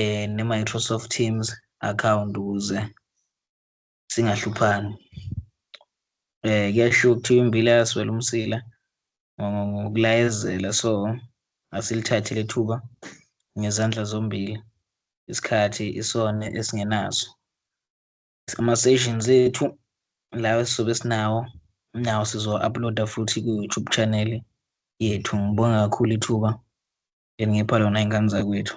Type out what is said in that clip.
eh ne Microsoft Teams account ukuze singahluphani eh kuyasho ukuthi imbila yaswela umsila ngokulayezela so asilithathile ithuba ngezandla zombili isikhathi isona esingenaso ama-sessions ethu lawa esizobe sinawo nawo sizo-uploada futhi ku-youtube channel yethu ngibonga kakhulu ithuba Ngipha lona ingane zakwethu.